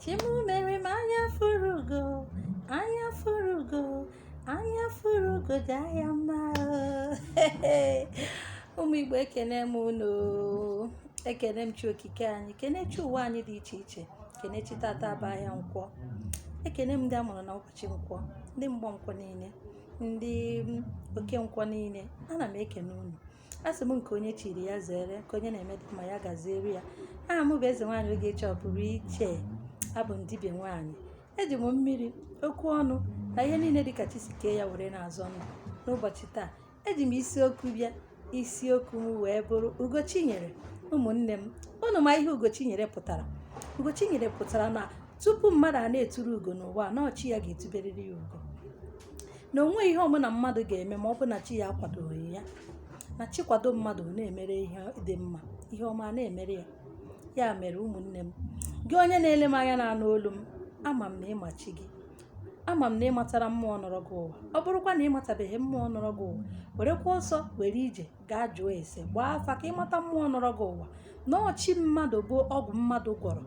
chi mụ mere m anya fụrụ ugo anya fụrụ ugo anya fụrụ ugo dị anya mma ụmụ igbo ekene m unu ekene m chi okike anyị kene chi ụwa anyị dị iche iche kene chi tata bụ ahịa nkwọ ekene m ndị a mụrụ na ụbọchị nkwọ ndị mgbọ nkwọ niile ndị oke nkwọ niile ana m ekene unu asị m nke onye chiri ya zere nke onye na-eme dị mma ya gaziere ya aha m bụ eze nwaanyị ogechi ọpụrụiche abụ m dibịa nwaanyị eji m mmiri okwu ọnụ na ihe niile dịka chi si kee ya were na-azọ ndụ n'ụbọchị taa eji m isiokwu bịa isiokwu m wee bụrụ ugochinyere ụmụnne m unu ma ihe ugochinyere pụtara ugochinyere pụtara na tupu mmadụ a na-eturu ugo n'ụwa na ọ chi ya ga-etuberịrị ya ugo na o nweghị ihe ọbụla mmadụ ga-eme ma ọ bụ na chi ya akwadoghị ya na chi kwado mmadụ ọ na-emere ihe dị mma ihe ọma a na-emere ya ya mere ụmụnne m gị onye na-ele m anya na-anụ olu m ama m na ị ma chi gị ama m na ị matara mmụọ nọrọ gị ụwa ọ bụrụkwa na ị matabeghị mmụọ nọrọ gị ụwa werekwa ọsọ were ije gaa jụọ ese gbaa afa ka ị mata mmụọ nọrọ gị ụwa na ọ chi mmadụ bụ ọgwụ mmadụ gwọrọ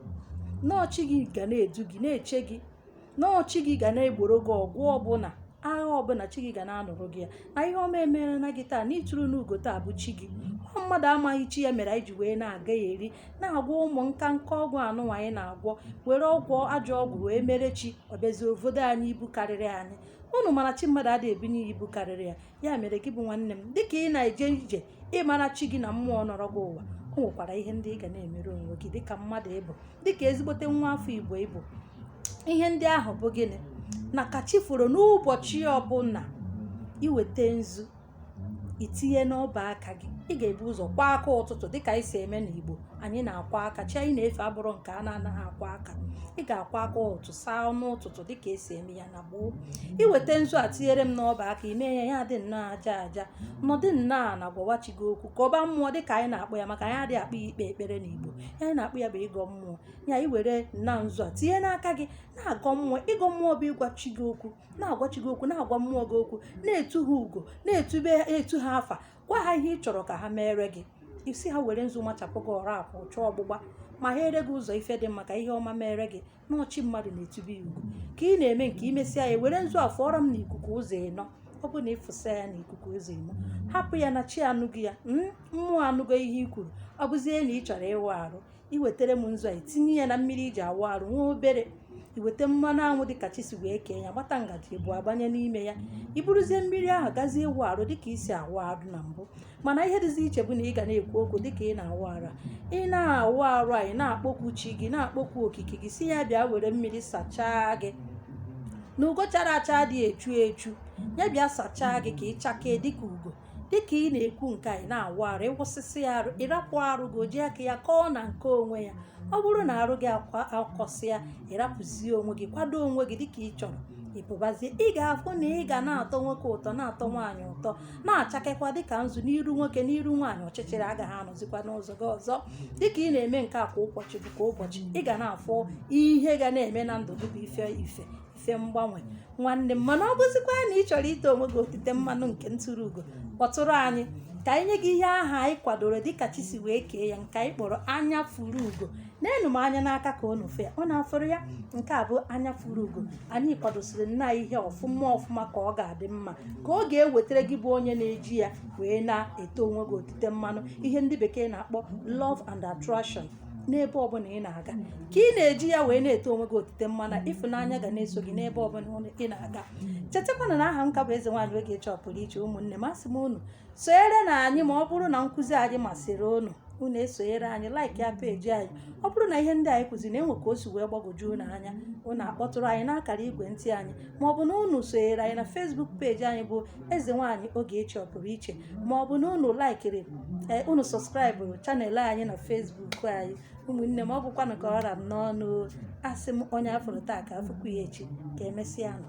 na ọ chi gị ga na-edu gị na-eche gị na ọ chi gị ga na-egboro gị ọgụ ọbụla agha ọbụla chi gị ga na-anụrụ gị ya na ihe ọma emerena gị taa na i turuna ugo taa bụ chi gị ọ mmadụ amaghị chi ya mere anyị ji wee na-agaghari na-agwọ ụmụ nka nka ọgwụ anụnwa anyị na-agwọ were ọgwụ ajọ ọgwụ wee mere chi ọ bịazie bodo anyị ibu karịrị anyị unu mara chi mmadụ adịghị ebunye ya ibu karịrị ya ya mere gị bụ nwanne m dịka ị na-eje ije ịmara chi gị na mmụọ nọrọ gị ụwa o nwekwara ihe ndị ị ga na-emere onwe gị dịka mmadụ ị bụ dịka ezigbote nwa afọ igbo ị bụ ihe ndị ahụ bụ gịnị na ka chi foro n'ụbọchị ọbụla i weta nzu i tinye n'ọba aka gị ị ga-ebu ụzọ kwọọ aka ụtụtụ dịka anyị si eme n'igbo anyị na-akwọ aka chi anyị na-efe abụrọ nke a na-anaghị akwọ aka ị ga-akwọ aka ụtụtụ saa ọnụ ụtụtụ dịka e si eme ya na gboo i weta nzu a tinyere m n'ọba aka i mee ya ya dị nnọọ aja aja nọdị nnọọ ana gwawa chi gị okwu gọba mmụọ dịka anyị na-akpọ ya maka anyị adịghị akpọ ya ikpe ekpere n'igbo ihe anyị na-akpọ ya bụ ịgọ mmụọ ya i were na nzu a tinye n'aka gị na-agọ mmụọ ịgọ mmụọ bụ ịgwa chi gị okwu na-agwa chi gị okwu na-agwa mmụọ gị okwu na-etu ha ugo na-etube etu ha afa gwa ha ihe ị chọrọ ka ha meere gị ị sị ha were nzu machapụ gị ọrụ akwụ chọọ ọgbụgba meghere gị ụzọ ife dị mma ka ihe ọma mere gị na ọ chi mmadụ na-etube ya ugo ka ị na-eme nke i mesịa ya were nzu a fụọrọ m n'ikuku ụzọ ịnọ ọ bụ na ị fụsa ya n'ikuku ụzọ ịnọ hapụ ya na chi anụgo ya mmụọ anụgo ihe i kwuru ọ bụzie na ị chọrọ ịwụ arụ iwetara m nzu a itinye ya na mmiri i ji awụ arụ nwa obere iweta mmanụ anwụ dịka chi si wee kee ya gbata ngaji abụọ gbanye n'ime ya iburuzie mmiri ahụ gazie ịwụ arụ dịka i si awụ arụ na mbụ mana ihe dịzi iche bụ na ị ga na-ekwu okwu dịka ị na-awụ arụ a ị na-awụ arụ a ị na-akpọku chi gị na-akpọku okike gị sị ya bịa were mmiri sachaa gị na ugo chara acha adị echu echu ya bịa sachaa gị ka ị chakee dịka ugo dịka ị na-ekwu nke a ị na-awụ arụ ị wụsịsịa arụ ịrapụ arụ gị o ji aka ya kọọ na nke onwe ya ọ bụrụ na arụ gị akọsịa ịrapụzie onwe gị kwado onwe gị dịka ị chọrọ ịpụbazie ị ga-afụ na ị ga na-atọ nwoke ụtọ na-atọ nwaanyị ụtọ na-achakekwa dịka nzu n'iru nwoke n'iru nwaanyị ọchịchịrị agaghị anọzikwa n'ụzọ gị ọzọ dịka ị na-eme nke a kwa ụbọchị bụ kwa ụbọchị ị ga na-afụ ihe ga na-eme na ndụ gị bụ ife ife si mgbanwe nwanne m mana ọ bụzikwa na ị chọrọ ite onwe gị otite mmanụ nke nturu ugo kpọtụrụ anyị ka anyị nye gị ihe aha anyị kwadoro dịka chi si wee kee ya nke anyị kpọrọ anya fụrụ ugo neenụ m anya n'aka ka unu fụ ya unu afụrụ ya nke a bụ anya fụrụ ugo anyị kwadosiri nna ihe ọfụma ọfụma ka ọ ga-adị mma ka ọ ga-ewetara gị bụ onye na-eji ya wee na-ete onwe gị otite mmanụ ihe ndị bekee na-akpọ love and attraction n'ebe ọbụla ị na-aga ka ị na-eji ya wee na-ete onwe gị otite mmanụ ịfụnanya ga na-eso gị n'ebe ọbụla ị na-aga chetakwana na aha m ka bụ eze nwaanyị Ogechi ọpụrụ iche ụmụnne m asị m unu sonyere na anyị ma ọ bụrụ na nkụzi anyị masịrị unu unu esonyere anyị like ya peji anyị ọ bụrụ na ihe ndị anyị kụziri na e nwee ka o si wee gbagwojuo unu anya unu akpọtụrụ anyị n'akara igwe ntị anyị maọbụ na unu sonyere anyị na Facebook peji anyị bụ eze nwaanyị Ogechi ọpụrụ iche maọbụ na unu laikiri ee unu sọskraịbụrụ channel anyị na Facebook anyị ụmụnne m ọ bụkwanụ ka ọ ra m n'ọnụ asị m onye a fụrụ taa ka a fụkwu ya echi ka emesịanụ